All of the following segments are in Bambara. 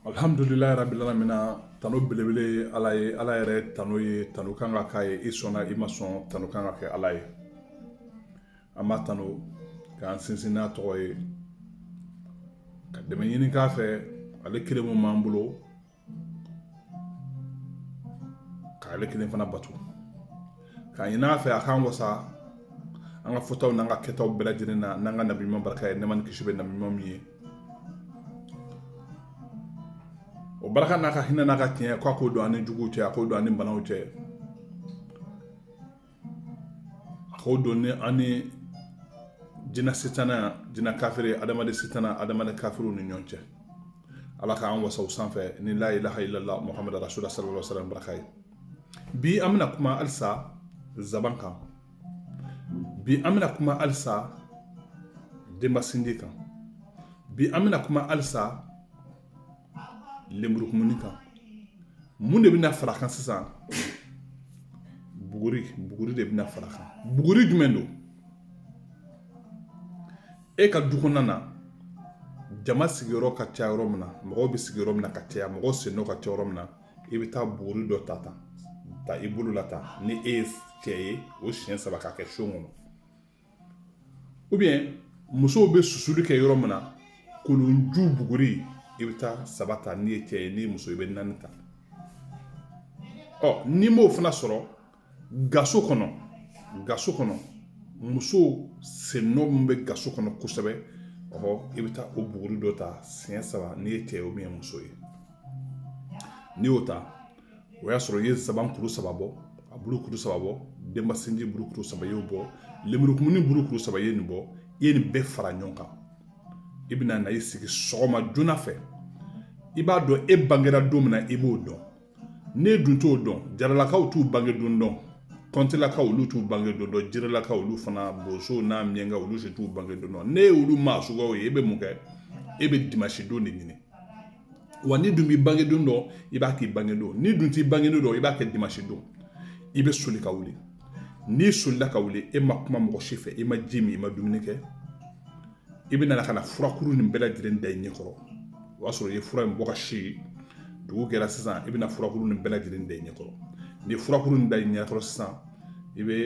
Alhamdulila rabil alamina tano belebele ye Ala ye, Ala yɛrɛ tano ye tano ka kan ka k'a ye i sɔnna i ma sɔn tano ka kan ka kɛ Ala ye, an b'a tano k'an sinsin n'a tɔgɔ ye ka dɛmɛ ɲini k'a fɛ ale kelen min b'an bolo k'ale kelen fana bato. K'a ɲini a fɛ a k'an wasa an ka fɔtaw n'an ka kɛtaw bɛɛ lajɛlen na n'an ka nabi ɲuman barika ye nɛɛma ni kisi bɛ nabi ɲuman min ye o barika n'a ka hinɛ n'a ka tiɲɛ k'a k'o don an ni juguw cɛ a k'o don an ni banaw cɛ a k'o don ni an ni jinɛ sitana jinɛ kafiri adamaden sitana adamaden kafiriw ni ɲɔgɔn cɛ ala k'an wasa o sanfɛ ni la ilaha illallah muhamadu rasulullah sallallahu alaihi wasallam baraka ye bi an bɛna kuma halisa zaban kan bi an bɛna kuma halisa denbasinji kan bi an bɛna kuma halisa lenburukumuni kan mun de bɛna fara kan sisan buguri de bɛna fara kan buguri jumɛn don e ka du kɔnɔna na jama sigiyɔrɔ ka ca yɔrɔ min na mɔgɔw bɛ sigiyɔrɔ min na ka caya mɔgɔw sennɔ ka ca yɔrɔ min na i bɛ taa buguri dɔ ta i bolo la tan ni e ye cɛ ye o siɲɛ saba k'a kɛ so kɔnɔ ou bien musow bɛ susuli kɛ yɔrɔ min na kolonju buguri i bɛ taa saba ta n'i ye cɛ ye ni muso i bɛ naani ta ɔ n'i m'o fana sɔrɔ gaso kɔnɔ musow sennɔ min bɛ gaso kɔnɔ kosɛbɛ ɔ i bɛ taa o buguri dɔ ta siɲɛ saba n'i ye cɛ ye o min ye muso ye n'i y'o ta o y'a sɔrɔ i ye zaban kuru saba bɔ a bulu kuru saba bɔ denbasinji bulu kuru saba y'o bɔ lemurukumuni bulu kuru saba ye nin bɔ i ye nin bɛɛ fara ɲɔgɔn kan i bɛna na i sigi sɔgɔma joona fɛ i b'a dɔn e bangera don min na i b'o dɔn n'e dun t'o dɔn jaralakaw t'u bange don dɔn kɔntilakaw olu t'u bange don dɔn jiralakaw olu fana bosow n'a miɲankaw olu si t'u bange don dɔn n'e y'olu maa suguyaw ye e bɛ mun kɛ e bɛ dimansi don de ɲini wa n'i dun b'i bange don dɔn i b'a k'i bange don n'i dun t'i bange don dɔn i b'a kɛ dimansi don i bɛ soli ka wuli n'i solila ka wuli e ma kuma mɔgɔ si fɛ i ma ji min i ma dumuni kɛ i bɛ nana ka na furakuru nin bɛɛ lajɛlen da i ɲɛ kɔrɔ o y'a sɔrɔ i ye fura in bɔ ka si dugu jɛra sisan i bɛna furakuru nin bɛɛ lajɛlen da i ɲɛ kɔrɔ ni furakuru nin da i ɲɛ kɔrɔ sisan i bɛ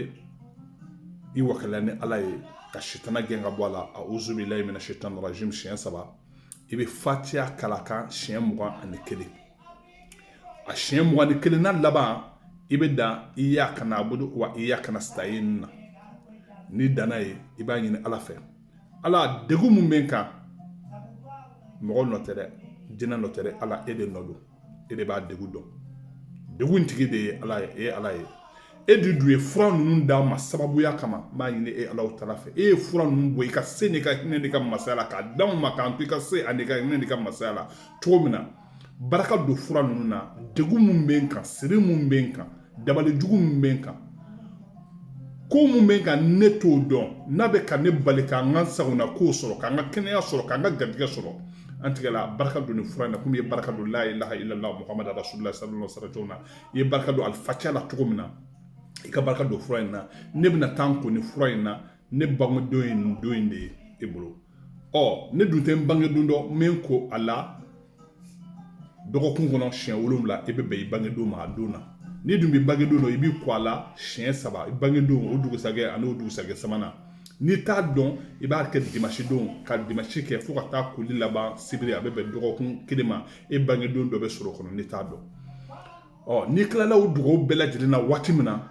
i wakala ni ala ye ka sitana gɛn ka bɔ a la a'uzu billahi minash shaitanir rajim siɲɛ saba i bɛ fatiya kalan a kan siɲɛ mugan ani kelen a siɲɛ mugan ni kelen na laban i bɛ dan iyyaka na'budu wa iyyaka nasta'in na ni danna ye i b'a ɲini ala fɛ ala degun min bɛ n kan mɔgɔ nɔ tɛ dɛ jinɛ nɔ tɛ dɛ ala e de nɔ don e de b'a degun dɔn degun tigi de ye ala ye e ye ala ye e de dun ye fura ninnu d'a ma sababuya kama n b'a ɲini e alahu taala fɛ e ye fura ninnu bɔ i ka se n'i ka hinɛ n'i ka masaya la k'a d'anw ma k'an to i ka se ani ka hinɛ n'i ka masaya la cogo min na barika don fura ninnu na degun min bɛ n kan siri min bɛ n kan dabalijugu min bɛ n kan ko min bɛ n kan ne t'o dɔn n'a bɛ ka ne bali ka n ka sagonakow sɔrɔ ka n ka kɛnɛya sɔrɔ ka n ka garijɛgɛ sɔrɔ an tigi ala barika don nin fura in na komi i ye barika don la ilaha illallah muhamadu rasulullah sallallahu alaihi wasallam na i ye barika don alifatiya la cogo min na i ka barika don fura in na ne bɛna taa n ko nin fura in na ne bangedon ye nin don in de ye e bolo ɔ ne dun tɛ n bangedon dɔn n bɛ n ko a la dɔgɔkun kɔnɔ siɲɛ wolonwula e bɛ bɛn i bangedon ma a don na n'i dun b'i bangedon dɔn i b'i ko a la siɲɛ saba i bangedon o dugusajɛ ani o dugusajɛ sabanan n'i t'a dɔn i b'a kɛ dimasi don ka dimasi kɛ fo ka taa koli laban sibiri a bɛ bɛn dɔgɔkun kelen ma e bangedon dɔ bɛ sɔrɔ o kɔnɔ n'i t'a dɔn ɔ n'i tilala o dugawu bɛɛ lajɛlen na waati min na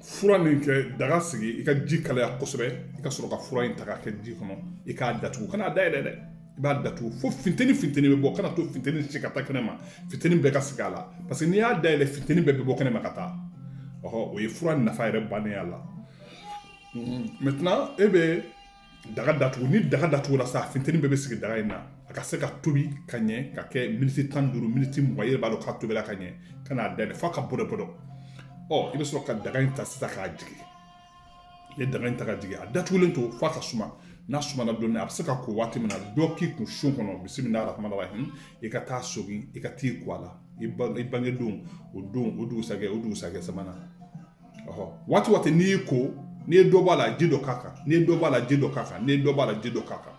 fura nin kɛ daga sigi i ka ji kalaya kosɛbɛ i ka sɔrɔ ka fura in ta k'a kɛ ji kɔnɔ i k'a datugu kana a dayɛlɛ dɛ i b'a datugu fo funteni funteni bɛ bɔ kana to funteni si ka taa kɛnɛ ma funteni bɛɛ ka sigi a la paseke n'i y'a dayɛlɛ funteni bɛɛ bɛ bɔ kɛnɛ ma ka taa ɔhɔ o ye fura nafa yɛrɛ bannen a la mɛtɛnan e bɛ daga datugu ni daga datugura sa finteni bɛɛ bɛ sigi daga in na a ka se ka tobi ka ɲɛ ka kɛ miniti tan duuru miniti mugan i yɛrɛ b'a dɔn k'a tobila ka ɲɛ kan'a dayɛlɛ f'a ka bɔdɔ bɔdɔ ɔ i bɛ sɔrɔ ka daga in ta sisan k'a jigin i ye daga in ta ka jigin a datugulen to f'a ka suma n'a sumana dɔɔni a bɛ se ka ko waati min na dɔ k'i kun sun kɔnɔ bisimilahi rahmani rahim i ka taa sogin i ka t'i ko a la i bangedon o dugusajɛ o dugusajɛ sabanan waati waati n'i y'i ko n'i ye dɔ b'a la ji dɔ k'a kan n'i ye dɔ b'a la ji dɔ k'a kan n'i ye dɔ b'a la ji dɔ k'a kan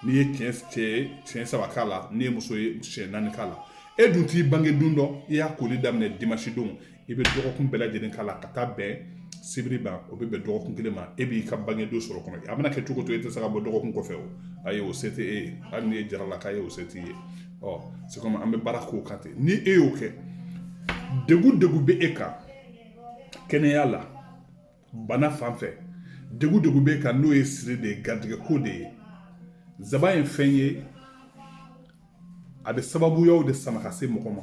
n'i ye cɛ ye siɲɛ saba k'a la n'i ye muso ye siɲɛ naani k'a la e dun t'i bange don dɔn i y'a koli daminɛ dimansi don i bɛ dɔgɔkun bɛɛ lajɛlen k'a la ka taa bɛn sibiri ma o bɛ bɛn dɔgɔkun kelen ma e b'i ka bange don sɔrɔ o kɔnɔ a bɛna kɛ cogo o cogo e tɛ se ka bɔ dɔgɔkun kɔfɛ o ayi o se tɛ e ye hali n'i ye jaralaka ye o se t'i ye ɔ se kɔmi an bɛ baara k'o kan ten ni e y'o kɛ degun degun bɛ e kan kɛnɛya la bana fan fɛ degun degun bɛ e kan n'o ye siri de ye garijɛgɛ ko de ye nsaban ye fɛn ye a bɛ sababuyaw de sama ka se mɔgɔ ma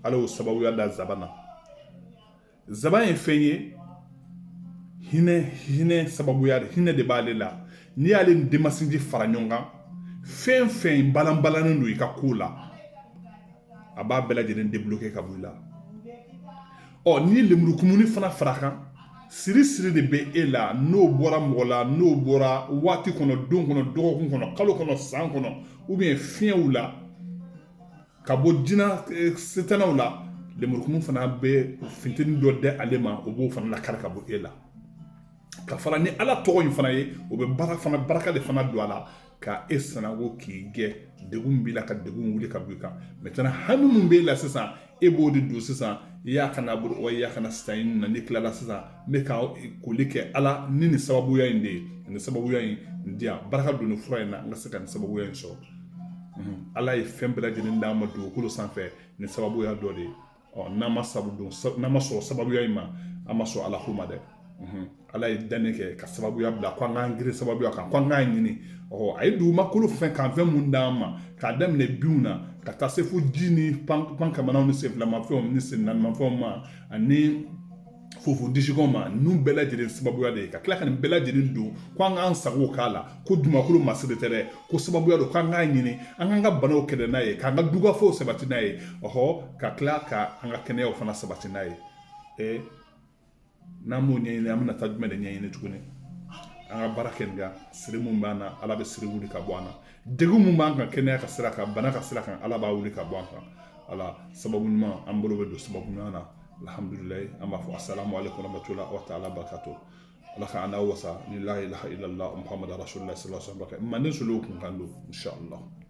ala y'o sababuya da nsaban na Zaban ye fɛn ye hinɛ hinɛ sababuya hinɛ de b'ale la n'i y'ale ni denmasinji fara ɲɔgɔn kan fɛn fɛn balanbalanen don i ka ko la a b'a bɛɛ lajɛlen débloquer ka bɔ i la ɔ n'i ye lemurukumuni fana fara kan siri siri de bɛ e la n'o bɔra mɔgɔ la n'o bɔra waati kɔnɔ don kɔnɔ dɔgɔkun kɔnɔ kalo kɔnɔ san kɔnɔ ou bien fiɲɛw la ka bɔ jinɛ eh, setanɛw la lemurukumu fana bɛ finteni dɔ di ale ma o b'o fana lakari ka bɔ e la ka fara ni ala tɔgɔ in fana ye o bɛ barika de fana don a la ka e sananko k'i gɛ degun b'i la ka degun wuli ka bɔ i kan maintenant hami min b'e la sisan e b'o de don sisan i y'a kana bolo wa i y'a kana sisan in na n'i tilala sisan n bɛ ka koli kɛ ala ni nin sababuya in de ye nin sababuya in n diyan barika don nin fura in na n ka se ka nin sababuya in sɔrɔ ala ye fɛn bɛɛ lajɛlen d'an ma dugukolo sanfɛ ni sababuya dɔ de ye n'an ma n'an ma sɔn sababuya in ma an ma sɔn ala ko ma dɛ ala ye danni kɛ ka sababuya bila ko an k'an girin sababuya kan ko an k'a ɲini a ye dugumakolo fɛn kan fɛn mun d'an ma k'a daminɛ binw na ka taa se fo ji ni pan kamanw ni senfilamafɛnw ni sennaanimafɛnw ma ani fofo disiko ma ninnu bɛɛ lajɛlen sababuya de ye ka tila ka nin bɛɛ lajɛlen don ko an k'an sago k'a la ko dugumakolo masiri tɛ dɛ ko sababuya don k'an k'a ɲini an k'an ka banaw kɛlɛ n'a ye k'an ka dugafɔw sabati n'a ye ɔhɔ ka tila ka an ka kɛnɛyaw fana sabati n'a ye ee n'an m'o ɲɛɲini an bɛna taa jumɛn de ɲɛɲini tuguni an ka baara kɛ nin kan siri mun b'an na ala bɛ siri wuli ka bɔ an na degun mun b'an kan kɛnɛya ka sira kan bana ka sira kan ala b'a wuli ka bɔ an kan ala sababu ɲuman an bolo bɛ don sababu ɲuman na alhamdulilalayi an b'a fɔ a sala ale kɔnɔbato la aw ta ala bakato ala ka ala wasa ni layi lahadulahamadu sulasan manden so kun kan don sala